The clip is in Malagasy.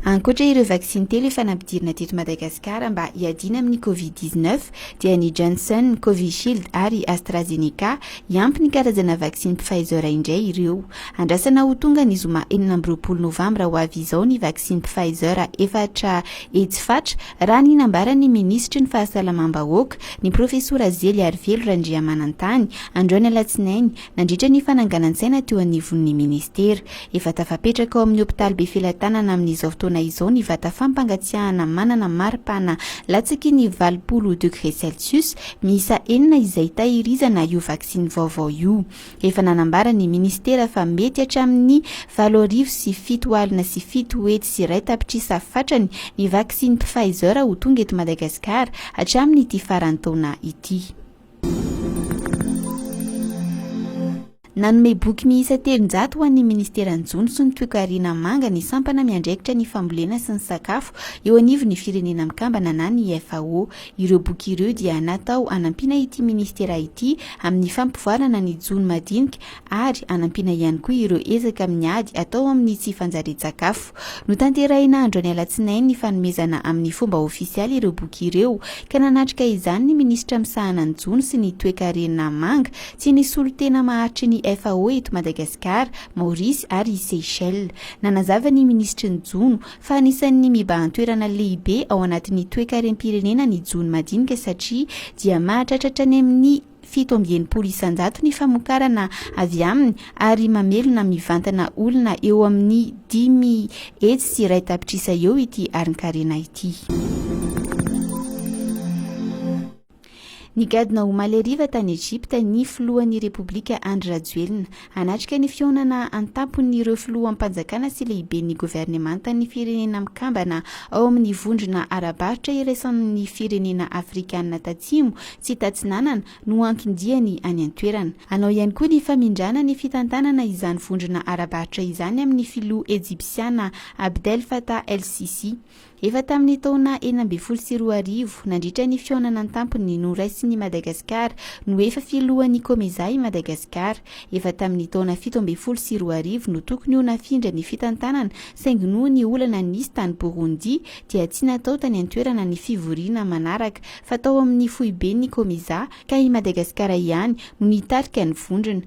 Ankoatra ireo vaksiny telo efa nampidirina teto Madagasikara mba hiadiana amin'ny Covid dix neuf dia ny Johnson, Covishield ary AstraZeneca. Hiampy ny karazana vaksiny Pfizer indray ireo. Andrasana ho tonga ny zoma enina amby roapolo novambra ho avy izao ny vaksiny Pfizer efatra hetsy fatra raha ny nambaran'ny minisitry ny Fahasalamam-bahoaka, ny Profesora Zeliarivelo Randriamanantany, androany alatsinainy. Nandritra ny fananganan-tsaina teo anivon'ny Ministera, efa tafapetraka ao amin'ny hopitaly Befelatanana amin'izao fotoana izao ny vata fampangatsiahana manana mari-pana latsaky ny valopolo degré celsius miisa enina izay tahirizana io vaksiny vaovao io. Efa nanambara ny Ministera fa mety hatramin'ny valo arivo sy fito alina sy fito hetsy sy iray tapitrisa fatrany ny vaksiny Pfizer ho tonga eto Madagasikara hatramin'ity faran'ny taona ity. Nanome boky miisa telonjato ho an'ny Ministeran'ny Jono sy ny Toekarena Manga ny sampana miandraikitra ny fambolena sy ny sakafo eo anivon'ny Firenena Mikambana na ny FAO. Ireo boky ireo dia natao hanampiana ity Ministera ity amin'ny fampivoarana ny jono madinika ary hanampiana ihany koa ireo ezaka amin'ny ady atao amin'ny tsy fanjarian-tsakafo. Notanterahina androany alatsinainy ny fanomezana amin'ny fomba ofisialy ireo boky ireo, ka nanatrika izany ny minisitra misahana ny jono sy ny toekarena manga sy ny solontena maharitry ny FAO eto Madagasikara, Maorisy ary Seychelles. Nanazava ny minisitry ny jono, fa anisan'ny mibahan-toerana lehibe ao anatin'ny toekarem-pirenena ny jono madinika satria dia mahatratra hatrany amin'ny. fito amby enimpolo isanjato ny famokarana avy aminy ary mamelona mivantana olona eo amin'ny dimy hetsy sy iray tapitrisa eo ity arin-karena ity. Nigadona omaly hariva tany Egypta ny filohan'ny Repoblika Andry Rajoelina. Hanatrika ny fihaonana an-tampon'ireo filoham-panjakana sy lehiben'ny governemantan'ny Firenena Mikambana ao amin'ny Vondrona ara-barotra iraisan'ny firenena afrikanina tatsimo sy tatsinanana no anton-diany any an-toerana. Hanao ihany koa ny famindrana ny fitantanana izany vondrona ara-barotra izany amin'ny filoha ejipsiana Abdel Fattah El-Sissi. Efa tamin'ny taona enina ambin'ny folo sy roa arivo, nandritra ny fihaonana an-tampony noraisin'i Madagasikara, no efa filohan'ny Comesaha i Madagasikara. Efa tamin'ny taona fito ambin'ny folo sy roa arivo no tokony ho nafindra ny fitantanana saingy noho ny olana nisy tany Burundi dia tsy natao tany an-toerana ny fivoriana manaraka fa tao amin'ny foiben'ny Comesaha ka i Madagasikara ihany no nitarika ny vondrona